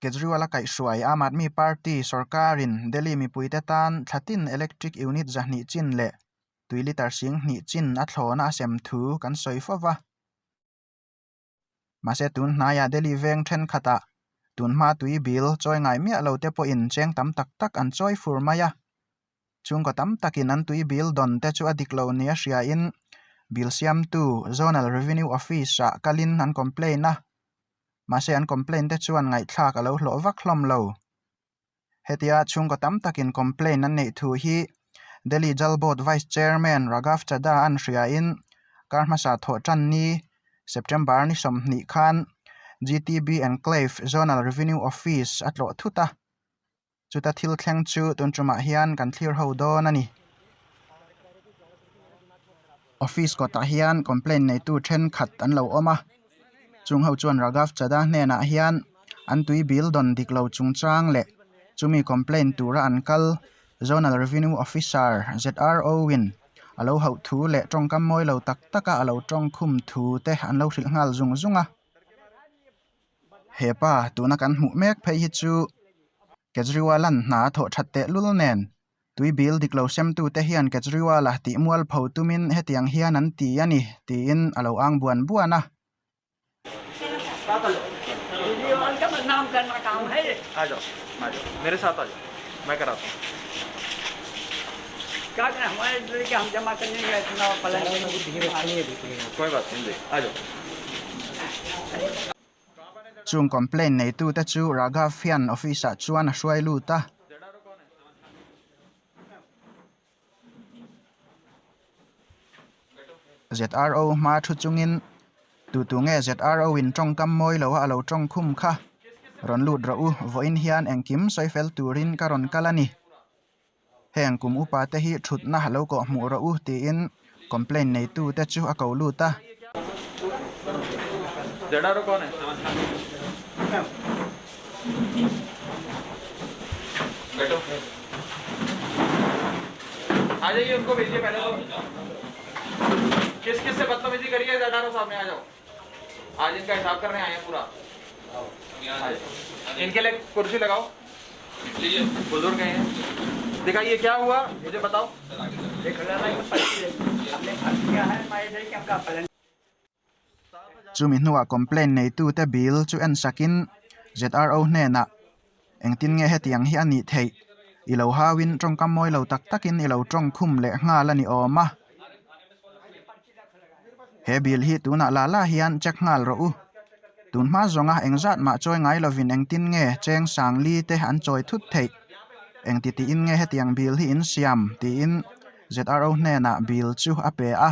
Kejriwal-a kaihhruai, Aam Aadmi Party sawrkarin Delhi mipuite tan thlatin electric unit zahnih chin leh tui litre sing hnih chin a thlawna a sem thu kan sawi fo va. Mahse tun hnaiah Delhi veng thenkhatah tun hma tui bill chawi ngai miah lote pawhin cheng tam tak tak an chawi fur mai a, Chhungkaw tam takin an tui bil dawn te chu a dik lo nia hriain bil siamtu Zonal Revenue Office-ah kalin an complain a, mahse an complain te chuan ngaihthlak a lo hlawh vak hlawm lo. Hetia chhungkaw tam takin complain an neih thu hi Delhi Jal Board Vice Chairman Raghav Chadha an hriain kar hmasa thawh tan ni September ni sawmhnih khan GTB Enclave Zonal Revenue Office a tlawh thut a. Chuta thil thleng chu tun tumah hian kan thlir ho dawn a ni. Office kawtah hian complain neitu thenkhat an lo awm a, chung ho chuan Raghav Chadha hnenah hian an tui bil dawn dik lo chungchang leh chumi complain tura an kal Zonal Revenue Officer ZRO in a lo hauh thu leh tawngkam mawi lo tak taka a lo tawngkhum thu te an lo hrilh nghal zung zung a. Hepa, tuna kan hmuh mek phei hi chu Kejriwal-a'n hna a thawh that tehlul nen, tui bil dik lo semtu te hian Kejriwal-a tih mual pho tumin hetiang hian an ti a ni tiin a lo ang buan buan a. Chung complain neitute chu Raghav hian office ah chuan a hruai lut a. ZRO hma thu chungin tutu nge ZRO in tawngkam mawi lo a, a lo tawng khum kha rawn lut rawh u, vawiin hian engkim sawi fel turin ka rawn kal a ni. Heng kum upa te hi thutna lo kawh hmuh rawh u tiin complain neitu te chu a ko lut a. Chumi hnuah complaint neitute bil chu en sakin ZRO hnenah Engtin nge hetiang hi a nih theih? I lo hauin tawngkam mawi lo tak takin i lo tawng khum leh nghal a ni awm a. He bil hi tunah la la hian check nghal rawh u. Tun hma zawnga eng zat mah chawi ngai lovin engtin nge cheng sang li te an chawi thut theih? Engti tiin nge hetiang bil hi in siam? tiin ZRO hnenah bil chu a pe a.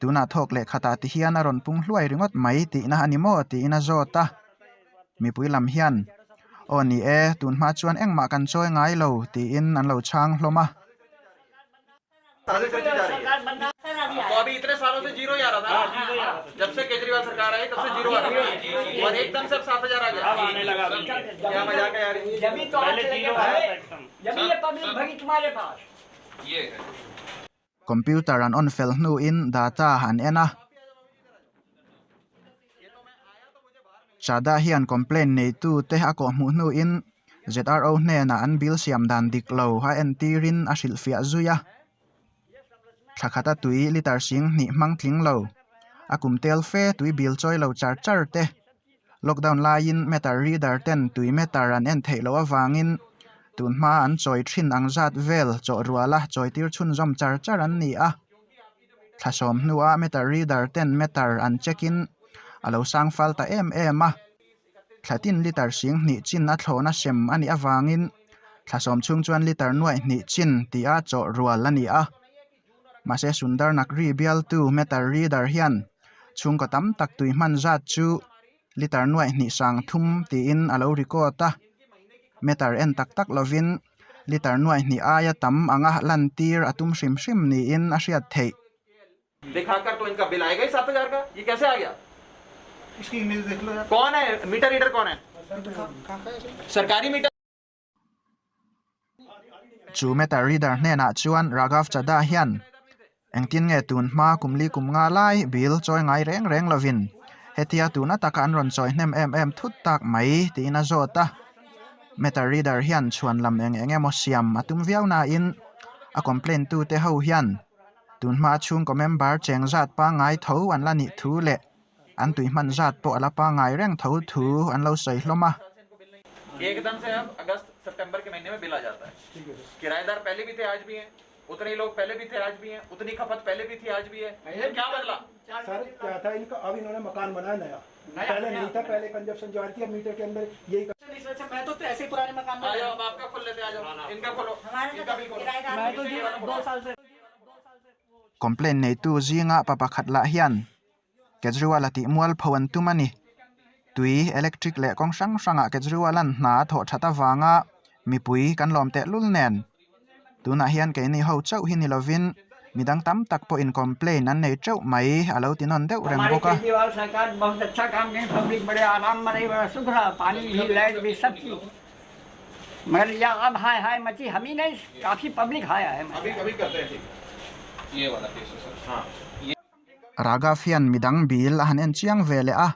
Tunah thawk leh khatah ti hian a rawn pung hluai ringawt mai tihna a ni maw tiin a zawt a. Mipui lam hian, Aw ni e, tun hma chuan engmah kan chawi ngai lo, tiin an lo chhang hlawm a. Computer an on fel hnu in data an en a. Chada hian complain neitu te a kawhhmuh hnu in ZRO hnenah an bil siam dan dik lo a en tir in a hrilh fiah zui a. Thla khat a tui litre sing hnih hmang tling lo, a kum tel fe tui bil chawi lo char char te Lockdown laiin Meter Reader ten tui meter an en theih loh avangin tun hmaa an chawi thin ang zat vel chawh rual a chawi tir chhunzawm char char an ni a. Thla sawm hnua Meter Reader ten meter an check in a lo sang fal ta em em a. Thla tin litre sing hnih chin a thlawh na sem a nih avangin thla sawm chhung chuan litre nuaih hnih chin tia chawh rual a ni a. Mahse, Sundarnak ri bialtu Meter Reader hian chhungkaw tam tak tui hman zat chu liter nuaih hnih sang thum tiin a lo record a. Meter en tak tak lovin liter nuaih hnih aia tam anga lan tir a tum hrim hrim niin a hriat theih. Chu matter reader hnenah chuan Raghav Chadha hian engtin nge tun hma kum li kum nga lai bil chawi ngai reng reng lovin hetia tuna taka an rawn chawi hnem em em thut tak mai tiin a zawt a. Matter reader hian chhuan lam eng eng emaw siam a tum viau nain a complain tute ho hian tun hma a chhungkaw member cheng zat pangngai tho an la nih thu leh An tui hman zat pawh a la pangai reng tho thu an lo sawi hlawm a. Complain neitu zinga pa pakhat lah hian. Kejriwal a tih mual pho an tum a ni. Tui, electric leh kawng hrang hrangah Kejriwal-a'n hna a thawh that avanga mipui kan lawm teh lul nen. Tunah hian keini ho chauh hi ni lovin midang tam tak pawhin complain an nei teuh mai a lo tinawn deuh reng bawk a. Raga fian midang bil a han en chiang ve leh a,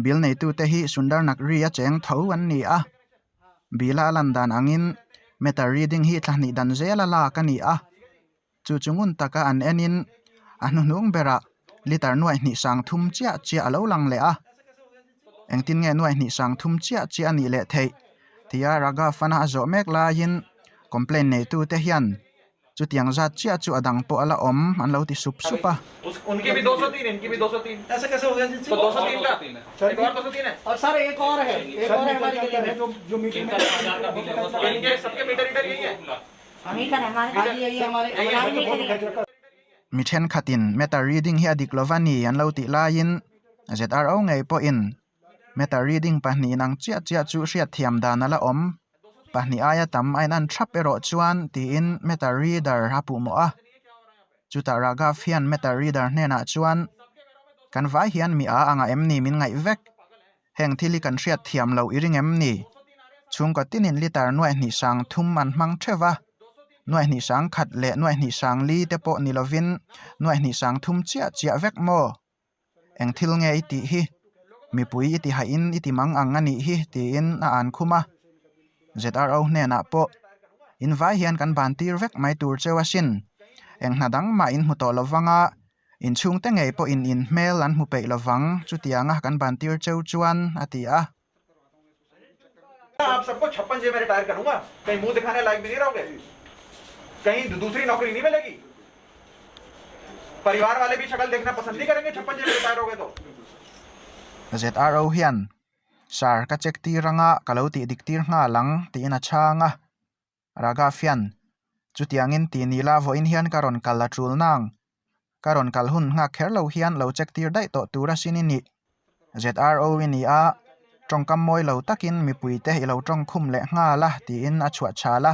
bil neitute hi Sundar Naqvi-a cheng tho an ni a. Bila a lan dan angin meter reading hi thla hnih dan zela lak a ni a. Chu chu ngun taka an enin a hnuhnung bera liter nuai hnih sang thum chiah chiah a lo lang leh a. Engtin nge nuai hnih sang thum chiah chiah a nih leh theih? tia Raga fan-a a zawh mek laiin complain neitute hian Chutiang zat chiah chu a dang pawh a la awm an lo ti sup sup a. Mi thenkhatin meter reading hi a dik lo va ni an lo tih laiin zro ngei pawhin. Meta reading pahnih in ang chiah chiah chu hriat thiam dan ala awm. Pahnih aia tam a inan thap erawh chuan tiin meta reader a puh mawh a. Chutah Raghav hian meta reader hnenah chuan, Kan vai hian mi a ang a em ni min ngaih vek. Heng thil hi kan hriat thiam lo i ring em ni? Chhungkaw tinin litar nuaih hnihsang thum an hmang theuh a. Nuaih hnihsang khat leh nuaih hnihsang li te pawh ni lovin nuaih hnihsang thum chiah chiah vek maw? Eng thil nge i tih hi? Mipui i tihaihin i timang ang a nih hi, tiin a an khum a. ZRO hnenah pawh, In vai hian kan bantir vek mai tur cheu a sin. Eng hna dang mah in hmu tawh lo vang a, in chhungte ngei pawhin in hmel an hmu peih lo vang, chutianga kan bantir cheu chuan a ti a. ZRO hian, Sir, ka check tir anga ka lo tih dik tir nghal ang, tiin a chhang a. Raga fian, chutiangin ti ni la vawiin hian ka rawn kal a tul nang, ka rawn kal hun nghak kher lo hian lo check tir daih tawh tur asin i nih. ZRO i ni a, tawngkam mawi lo takin mipui te i lo tawng khum leh nghal a tiin a chhuah chhal a.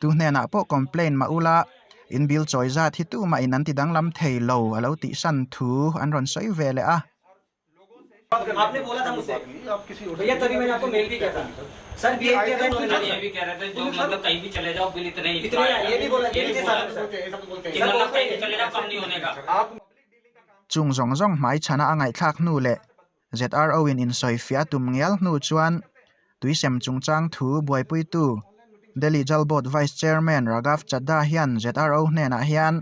Tu hnenah pawh complain mah ula, in bill chawi zat hi tu mahin an ti danglam thei lo a lo tih san thu an rawn sawi ve leh a. Chung zawng zawng hmai chhana a ngaihthlak hnu leh ZRO-in insawi fiah a tum ngial hnu chuan tuisem chungchang thu buaipuitu Delhi Jal Board Vice Chairman Raghav Chadha hian ZRO hnenah hian,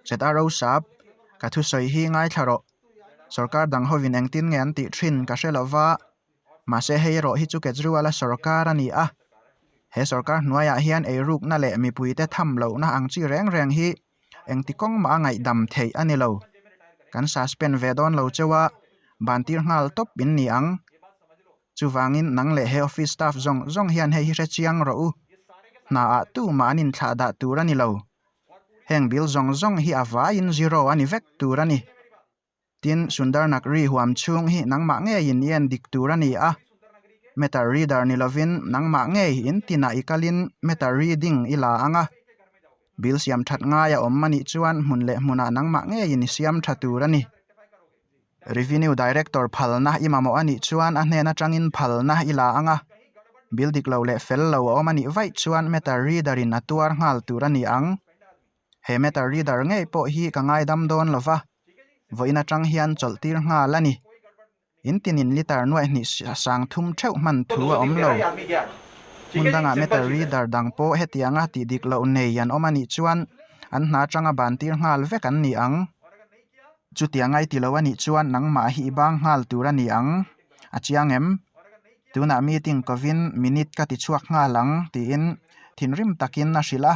ZRO sap, ka thusawi hi ngaithla rawh, sorkar dang hovin engtin nge an tih thin ka hre lova, mahse hei erawh hi chu Kejriwal-a sorkar a ni a, he sorkar hnuaiah hian eirukna leh mipuite tham lohna ang chi reng reng hi engti kawng mah a ngaihdam theih a ni lo. Kan suspend ve dawn lo cheu a, bantir nghal tawp in ni ang. Chuvangin nang leh he office staff zawng zawng hian hei hi hre chiang rawh u, hna ah tu mah an inthlah dah tur a ni lo. Heng bil zawng zawng hi a vaiin zero a ni vek tur a ni. Tin, Sundarnak ri huam chhung hi nangmah ngeiin i en dik tur a ni a. Matter reader ni lovin nangmah ngei in tinah i kalin matter reading i la ang a. Bil siam that ngai a awm a nih chuan hmun leh hmunah nangmah ngeiin i siam tha tur a ni. Revenue Director phalna i mamawh a nih chuan a hnen atangin phalna i la ang a. Bil dik lo leh fel lo a awm a nih vaih chuan matter reader-in a tuar nghal tur a ni ang. he matter reader ngei pawh hi ka ngaidam dawn lo va, vawiin atang hian chawlh tir nghal a ni. In tinin liter nuaih hnih sang thum theuh hman thu a awm lo. Hmun dangah matter reader dang pawh hetiang a tih dik loh nei an awm a nih chuan an hna atanga ban tir nghal vek an ni ang. Chutiang ngai ti lo a nih chuan nangmah hi i bang nghal tur a ni ang a chiang em? Tunah meeting kovin minute ka ti chhuak nghal ang tiin thinrim takin a hrilh a.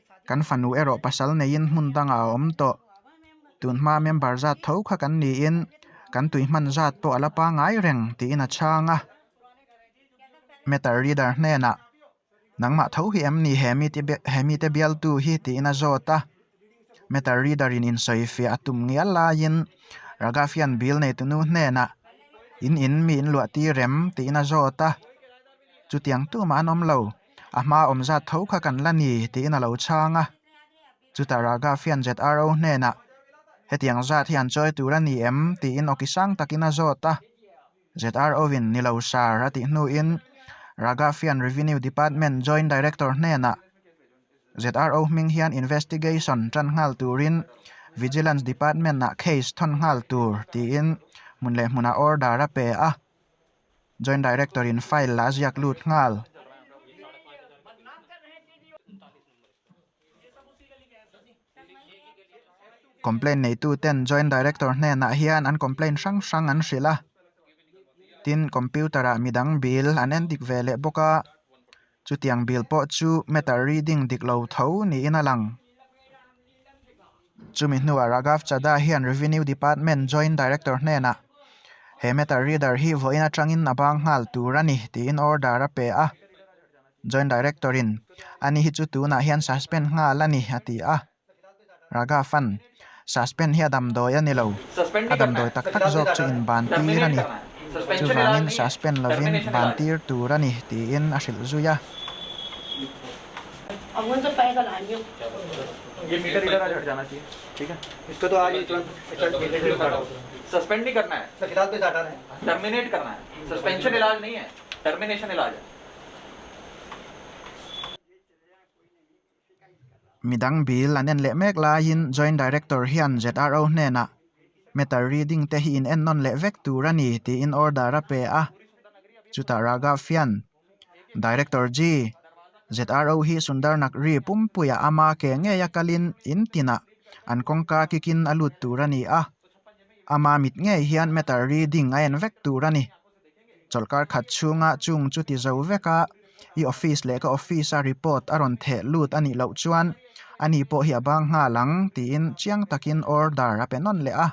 Kan fanu erawh pasal neiin hmun dangah a awm tawh. Tun hmaa member zat tho kha kan niin kan tui hman zat pawh a la pangai reng, tiin a chhang a. Matter Reader hnenah, Nangmah tho hi em ni he mite he mite bialtu hi? tiin a zawt a. Matter Reader in insawifiah a tum ngial laiin Raga fian bil nei tunu hnenah, In in mi in luahtir em? tiin a zawt a. Chutiang tumah an awm lo. A hma awm zat tho kha kan la ni, tiin a lo chhang a. Chutah Ragafian ZRO hnenah, Hetiang zat hi an chawi tur a ni em? tiin awki sang takin a zawt a. ZRO-in, Ni lo sir, a tih hnuin Ragafian Revenue Department Joint Director hnenah, ZRO hming hian investigation tan nghal turin Vigilance Department-ah case thawn nghal tur, tiin hmun leh hmunah order a pe a. Joint Director in file lah a ziak lut nghal. Complaint neitu ten Joint Director hnenah hian an complaint hrang hrang an hrilh a, tin computer ah midang bil an en dik ve leh bawk a. Chutiang bil pawh chu matter reading dik lo tho niin a lang. Chumi hnuah Raghav Chadha hian Revenue Department Joint Director hnenah he matter reader hi vawiin atangin a bang nghal tur a ni tiin order a pe a. Joint Director-in, Ani hi chu tunah hian suspend nghal a ni, a ti a. Raga fan, Suspend hi a damdawi a ni lo. A damdawi tak tak zawk chu inbantir a ni. Chuvangin suspend lovin bantir tur a ni tiin a hrilh zui a. Midang bil an en leh mek laiin Joint Director hian ZRO hnenah Meter reading te hi in-en nawn leh vek tur a ni tiin order a pe a. Chutah Raghav hian, Director ji, ZRO hi Sundarnak ri pumpuiah a ma ke ngeia kalin in tinah an kawngka kikin a lut tur a ni a. A ma mit ngei hian Meter reading a en vek tur a ni. Chawlhkar khat chhunga chung chu ti zo vek a, i office leh ka office-a report a rawn theh lut a nih loh chuan ani pawh hi a bang nghal ang tiin chiang takin order a pe nawn leh a.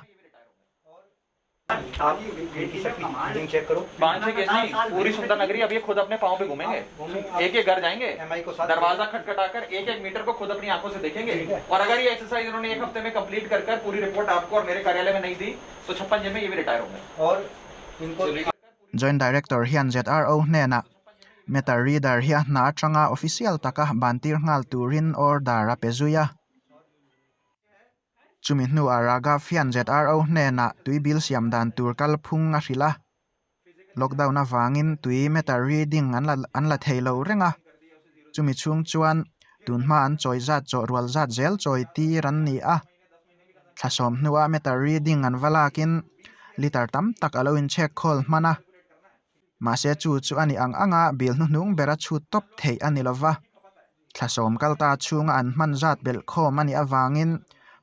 Joint Director hian ZRO hnenah Matter Reader hi a hna atanga official taka bantir nghal turin order a pe zui a. Chumi hnuah Raghav hian ZRO hnenah tui bill siam dan tur kalphung a hrilh a. Lockdown avangin tui matter reading an la thei lo reng a. Chumi chhung chuan tunhma an chawi zat chawhrual zat zel chawi tir an ni a. Thlasawm hnua meter reading an va lakin liter tam tak a lo in check khawl hman a, mahse chu chu a ni ang ang a bil hnuhnung ber a chhut tawp theih a ni lo va, thlasawm kal ta chhung a an hman zat belh khawm a nih avangin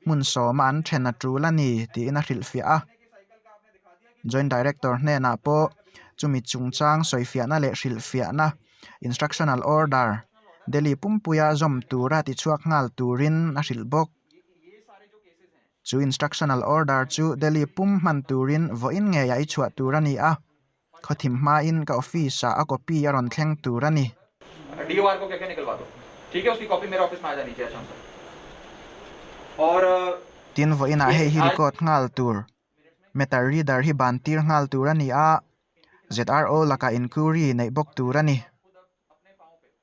hmun sawma an then a tul a ni tiin a hrilhfiah a. Joint Director hnenah pawh chumi chungchang sawifiahna leh hrilhfiahna, Instructional Order, Delhi pumpuia zawm tura tichhuak nghal turin a hrilh bawk. Chu instructional order chu Delhi pum hman turin vawiin ngeiah i chhuah tur a ni a, khawthim hmain ka office ah a copy a rawn thleng tur a ni. Tin, vawiinah hei hi record nghal tur matter reader hi bantir nghal tur a ni a, ZRO lakah inquiry neih bawk tur a ni.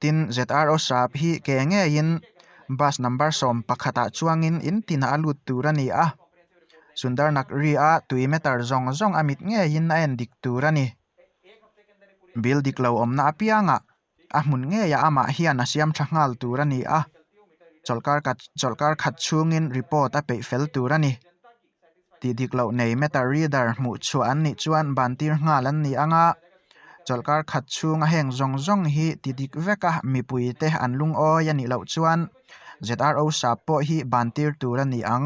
Tin, ZRO sap hi ke ngeiin bus number sawm pakhatah chuangin in tinah a lut tur a ni a, Sundar Nagri-a tui meter zawng zawng a mit ngeiin a en dik tur a ni. Bil dik lo awmna apianga a hmun ngeia amah hian a siam tha nghal tur a ni a, chawlhkar khat chhungin report a peih fel tur a ni. Tih dik loh nei meta reader hmuh chhuah an nih chuan bantir nghal an ni ang a, chawlhkar khat chhunga heng zawng zawng hi ti dik veka mipui te an lungawi a nih loh chuan ZRO sap pawh hi bantir tur a ni ang.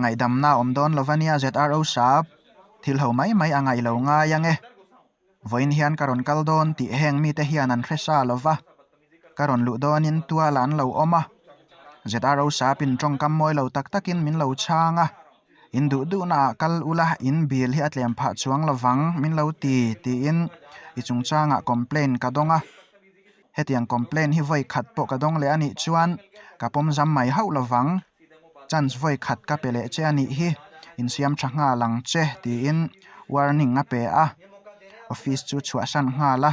Ngaihdamna awm dawn lo va nia ZRO sap, thil ho mai mai a ngaih lo ngai ang e. Vawiin hian ka rawn kal dawn tih heng mite hian an hre sa lo va, ka rawn luh dawnin tuala an lo awm a. ZRO sapin tawngkam mawi lo tak takin min lo chhang a, in duh duhnaah kal ula in bil hi a tlem phah chuang lovang min lo ti, tiin i chungchangah complain ka dawng a. Hetiang complain hi vawi khat pawh ka dawng leh a nih chuan ka pawm zam mai hauh lo vang. Chance vawi khat ka pe leh che a nih hi, insiam tha nghal ang che tiin warning a pe a, office chu chhuah hran nghal a.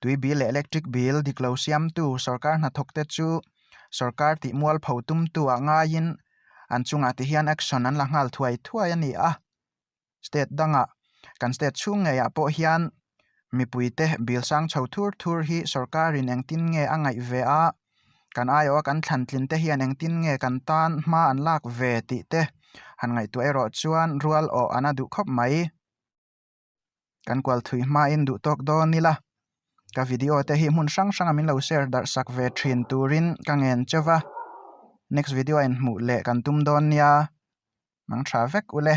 tui bil leh electric bil dik lo siamtu sorkar hnathawk te chu sorkar tih mual pho tum tu ah ngaiin an chungah te hian action an la nghal thuai thuai a ni a. State dangah, kan state chhung ngeiah pawh hian mipui te bil sang chho thur thur hi sorkarin engtin nge a ngaih ve a, kan aiawh a kan thlan tlin te hian engtin nge kan tan hma an lak ve tih te han ngaihtuah erawh chuan rual awh an a duh khawp mai. kan kualthui hmain duh tawk dawn ila ka video te hi hmun hrang hranga min lo share darhsak ve thin turin ka ngen che va next video a in hmuh leh kan tum dawn nia nang tha vek u le.